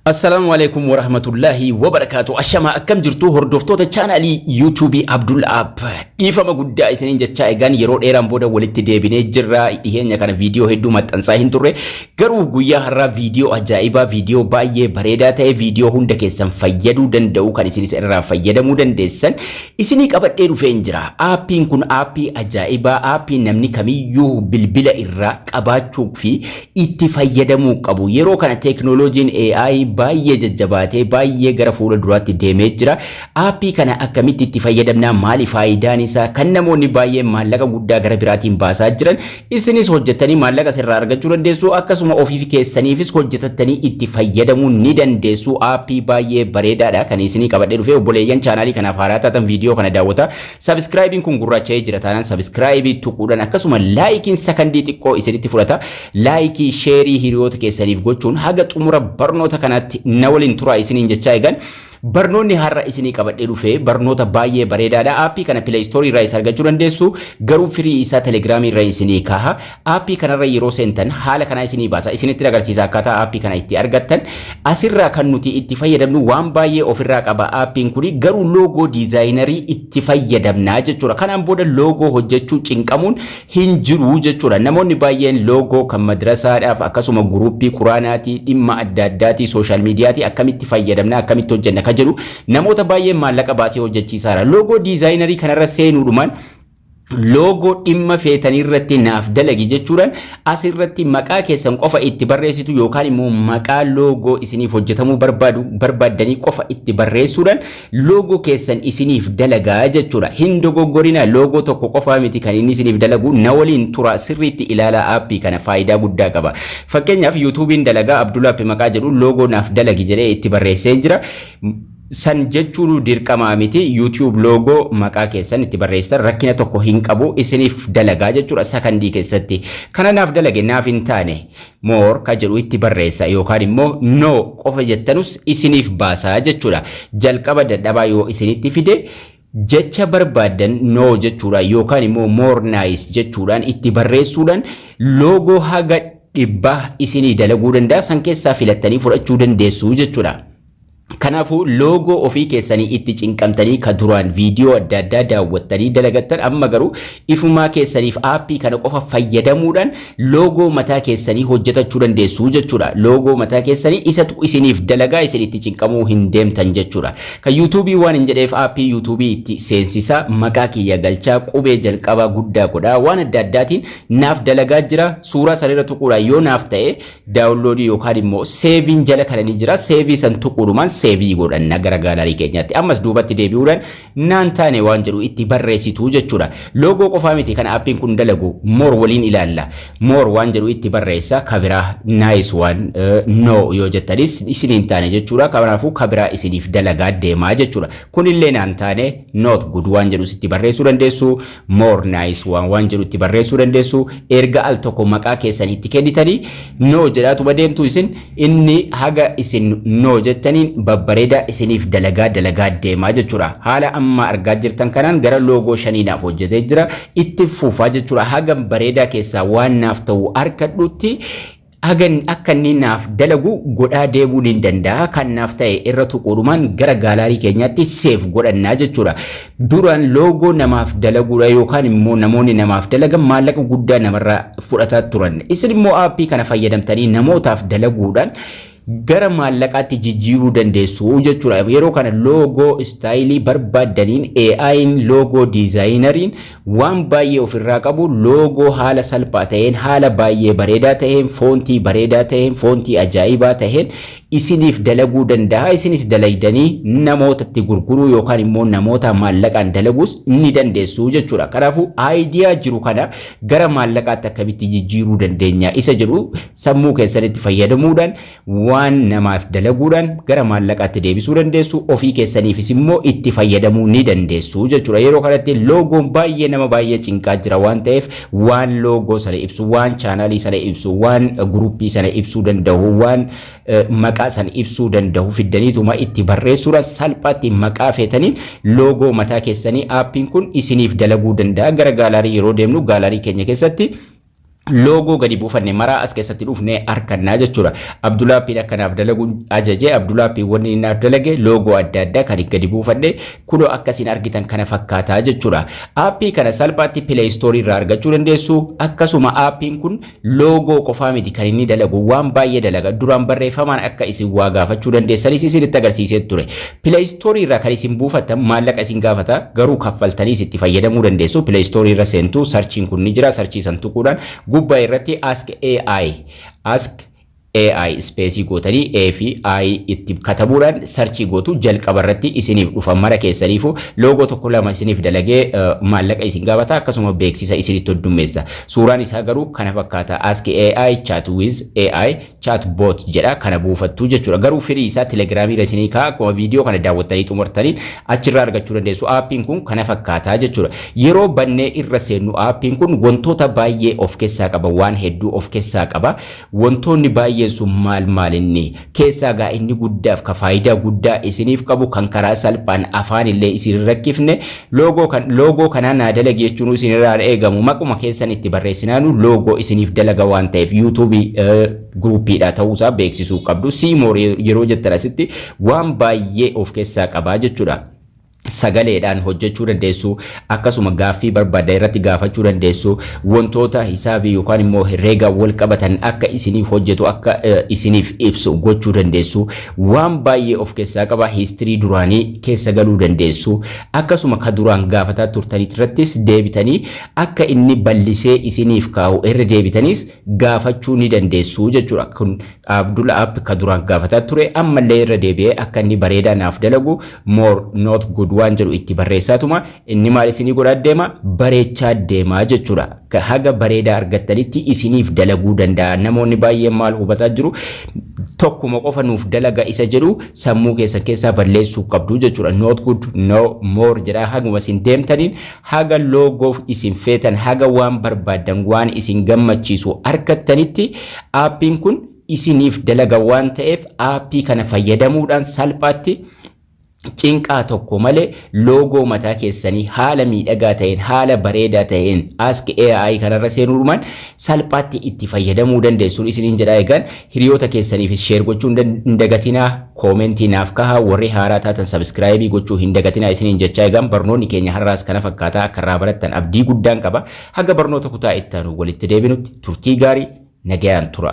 Assalaamu Aleeykum Warahmatullaahi Wabarakaatu Ashamaa akkam jirtuu hordoftoota chaanaalii yuutuubii Abdul App dhiifama guddaa isiniin jechaa egaan yeroo dheeraan booda walitti deebinee jirra dhiheenya kana viidiyoo hedduu maxxansaa hin turre garuu guyyaa har'aa viidiyoo ajaa'ibaa viidiyoo baay'ee bareedaa ta'e viidiyoo hunda keessan fayyaduu danda'u kan isinis irraa fayyadamuu dandeessan isinii qabadhee dhufeen jira aappiin kun aappii ajaa'ibaa aappii namni kamiyyuu bilbila irraa qabaachuu fi itti fayyadamuu qabu. Yeroo kana teeknooloojiin AI baay'ee jajjabaatee baay'ee gara fuula duraatti deemee jira. Aappii kana akkamitti itti fayyadamna? Maali faayidaan isaa? Kan namoonni baay'een maallaqa guddaa gara biraatiin baasaa jiran isinis hojjettanii maallaqa sirraa argachuu dandeessu. Akkasuma ofiif keessaniifis hojjetattanii itti fayyadamuu ni dandeessu. Aappii baay'ee bareedaadha kan isinii qabadhee dhufee obboleeyyan chaanaalii kanaaf haaraa taatan viidiyoo kana daawwata. Sabiskiraayibiin kun gurraacha'ee jira taanaan sabiskiraayibii tuquudhaan akkasuma laayikiin sakandii xiqqoo isinitti fudhata. Laayikii sheerii hiriyoota keessaniif gochuun haga xumura barnoota kanaatti na waliin turaa isiniin jechaa eegan. Barnoonni har'a isinii qabadhee dhufe barnoota baay'ee bareedaadha. Aappii kana pileeystoorii irraa isa argachuu dandeessu garuu firii isaa telegiraamii irra isinii kaaha. Aappii kanarra yeroo seentan haala kanaa isinii baasa. Isinitti agarsiisa akkaataa aappii kana itti argattan. Asirraa kan nuti itti fayyadamnu waan baay'ee ofirraa qaba aappiin kuni garuu loogoo diizaayinarii itti fayyadamna jechuudha. Kanaan booda loogoo hojjechuu cinqamuun hin jiru jechuudha. Namoonni baay'een loogoo kan madrasaadhaaf akkasuma guruuppii quraanaatii dhimma adda addaatii sooshaal miidiyaatii akkamitti fayyadamna akkamitti hojjenna ka jedhu namoota baay'een maallaqa baasee hojjechiisaara. Loogoo diizaayinarii kanarra seenuudhumaan loogoo dhimma feetanirratti naaf dalagi jechuudhaan asirratti maqaa keessan qofa itti barreessitu yookaan immoo maqaa loogoo isiniif hojjetamuu barbaadu barbaaddanii qofa itti barreessuudhaan loogoo keessan isiniif dalagaa jechuudha. Hin dogoggorina loogoo tokko qofaa miti kan inni isiniif dalagu na waliin tura sirriitti ilaalaa aappii kana faayidaa guddaa qaba. Fakkeenyaaf yuutuubiin dalagaa Abdulaappi maqaa jedhu loogoo naaf dalagi jedhee itti barreessee jira. San jechuunuu dirqamaa miti you tube logo maqaa keessan itti barreessitan rakkina tokko hin qabu isiniif dalagaa jechuudha sakandii keessatti kana naaf dalage naaf hin taane more ka jedhu itti barreessa yookaan immoo no qofa jettanus isiniif baasaa jechuudha jalqaba dadhabaa yoo isinitti fide jecha barbaaddan no jechuudha yookaan immoo more nice jechuudhaan itti barreessuudhaan logo haga dhibbaa isinii dalaguu danda'a san keessaa filattanii fudhachuu dandeessu jechuudha. Kanaafuu loogoo ofii keessanii itti cinqamtanii ka duraan viidiyoo adda addaa daawwattanii dalagattan amma garuu ifumaa keessaniif aappii kana qofa fayyadamuudhaan loogoo mataa keessanii hojjetachuu dandeessu jechuudha. Loogoo mataa keessanii isatu isiniif dalagaa isin itti cinqamuu hin deemtan jechuudha. Kan yuutuubii waan hin jedheef aappii yuutuubii itti seensisaa maqaa kiyya galchaa qubee jalqabaa guddaa godhaa waan adda addaatiin naaf dalagaa jira suuraa sanirra tuquudhaan yoo naaf ta'e Daawunloodii yookaan immoo seeviin jala kana ni jira. Seevii san tuquudhumaan seevii godhanna gara gaalarii keenyaatti. Ammas duubatti deebi'uudhaan naan taane waan jedhu itti barreessitu jechuudha. Loogoo qofaa miti kan aappiin kun dalagu moor waliin ilaalla. Moor waan jedhu itti barreessa kabiraa naayis waan no yoo jettanis isin hin taane jechuudha. Kanaafuu kabiraa isiniif dalagaa deemaa jechuudha. Kunillee naan taane noot gud waan jedhu itti barreessuu dandeessu. More nice waan waan jedhu itti barreessuu dandeessu erga al tokko maqaa keessan itti kennitanii no jedhaatuma deemtu isin inni haga isin no jettaniin babbareeda isiniif dalagaa dalagaa deemaa jechuudha haala amma argaa jirtan kanaan gara loogoo shanii naaf hojjetee jira itti fufaa jechuudha haga bareedaa keessaa waan naaf ta'u harkadhuutti Hagan akka inni naaf dalagu godhaa deemuu nin danda'a. Kan naaf ta'e irra tuquudhumaan gara gaalaarii keenyaatti seef godhanna jechuudha. Duraan loogoo namaaf dalaguudha yookaan immoo namoonni namaaf dalagan maallaqa guddaa namarraa fudhataa turan. Isin immoo aappii kana fayyadamtanii namootaaf dalaguudhaan gara maallaqaatti jijjiiruu dandeessu jechuudha. Yeroo kana loogoo istaayilii barbaaddaniin AI'n loogoo diizaayinariin Waan baay'ee of irraa qabu, loogoo haala salphaa ta'een, haala baay'ee bareedaa ta'een, foontii bareedaa ta'een, foontii ajaa'ibaa ta'een isiniif dalaguu danda'a. Isinis dalaydanii namootatti gurguruu yookaan immoo namoota maallaqaan dalaguus ni dandeessu jechuudha. Kanaafuu aayidiyaa jiru kana gara maallaqaatti akkamitti jijjiiruu dandeenya isa jedhu sammuu keessanitti fayyadamuudhaan Waan namaaf dalaguudhaan gara maallaqaatti deebisuu dandeessu, ofii keessaniifis immoo itti fayyadamuu ni dandeessu jechuudha. Yeroo kanatti loogoon baay'ee nama baay'ee cinqaa jira waan ta'eef waan loogoo sana ibsu, waan chaanaalii sana ibsu, waan guruppii sana ibsuu danda'u, waan maqaa sana ibsuu danda'u fiddaniituma itti barreessuudhaan salphaatti maqaa feetaniin loogoo mataa keessanii aappiin kun isiniif dalaguu danda'a. Gara gaalaarii yeroo deemnu gaalaarii keenya keessatti loogoo gadi buufanne maraa as keessatti dhufne harkannaa jechuudha. Abdulaappiin akka naaf dalagu ajaje Abdulaappiin wanni inni naaf dalage loogoo adda addaa kan gadi buufadhe kunoo akkasiin argitan kana fakkaataa jechuudha. Aappii kana salphaatti pileeyistoorii irraa argachuu dandeessu akkasuma aappiin kun loogoo qofaa miti kan inni dalagu waan baay'ee dalaga duraan barreeffamaan akka isin waa gaafachuu dandeessanis isinitti agarsiisee ture. Play Store irraa kan isin buufattan maallaqa isin gaafata garuu kaffaltaniis itti fayyadamuu dandeessu. Play Store irra seentu sarchiin kun ni jira. Sarchii san tuquudhaan gubbaa irratti Ask AI Ask AI ispeesii gootanii A fi I itti katabuudhaan sarchii gootu jalqaba irratti isiniif dhufa mara keessaniifu loogoo tokko lama isiniif dalagee maallaqa isin gaafata akkasuma beeksisa isinitti hoddummeessa. Suuraan isaa garuu kana fakkaata Ask AI Chat with AI chat bot jedha kana buufattu jechuudha. Garuu firii isaa Telegram irra isinii kaa akkuma viidiyoo kana daawwattanii xumurtaniin achirraa argachuu dandeessu. Aappiin kun kana fakkaata jechuudha. Yeroo bannee irra seennu aappiin kun wantoota baay'ee of keessaa qaba waan hedduu of keessaa qaba. Wantoonni baay'een sun maal maal inni keessaa gaa inni guddaaf ka faayidaa guddaa isiniif qabu kan karaa salphaan afaan illee isin hin rakkifne Loogoo kan loogoo kanaa naa dalagi jechuun isin irraa hin eegamu. Maquma keessan itti barreessinaanu loogoo isiniif dalaga waan ta'eef yuutuubii guruupiidha ta'uu isaa beeksisuu qabdu. Siimoor yeroo jettan asitti waan baay'ee of keessaa qabaa jechuudha. sagaleedhaan hojjechuu dandeessu akkasuma gaaffii barbaadda irratti gaafachuu dandeessu wantoota hisaabii yookaan immoo herreegaa wal qabatan akka isiniif hojjetu akka isiniif ibsu gochuu dandeessu Waan baay'ee of keessaa qaba, history duraanii keessa galuu dandeessu, akkasuma ka duraan gaafataa turtanitirrattis deebitanii akka inni ballisee isiniif kaa'u irra deebitaniis gaafachuu ni dandeessu jechuudha. Kun Abdul App ka duraan gaafataa ture ammallee irra deebi'ee akka inni bareedaa naaf dalagu more not good waan jedhu itti barreessaatuma inni maal isinii godhaa deema bareechaa deema jechuudha. Ka haga bareedaa argattanitti isiniif dalaguu danda'a. Namoonni baay'een maal hubataa jiru? Tokkuma qofa nuuf dalaga isa jedhu sammuu keessan keessaa balleessuu qabdu jechuudha. Not good, no more jedhaa haguma isin deemtaniin haga loogoo isin feetan, haga waan barbaaddan, waan isin gammachiisu argattanitti aappiin kun isiniif dalaga waan ta'eef aappii kana fayyadamuudhaan salphaatti cinqaa tokko malee loogoo mataa keessanii haala miidhagaa ta'een, haala bareedaa ta'een Ask AI kanarra seenuudhumaan salphaatti itti fayyadamuu dandeessuun isiniin jedhaa egaan hiriyoota keessaniifis sheer gochuun hin dagatinaa koomentii naaf kahaa warri haaraa taatan sabiskiraayibii gochuu hin dagatinaa isiniin jechaa egaan barnoonni keenya har'aas kana fakkaataa akka irraa barattan abdii guddaan qaba haga barnoota kutaa itti aanu walitti deebinutti turtii gaarii nagayaan tura.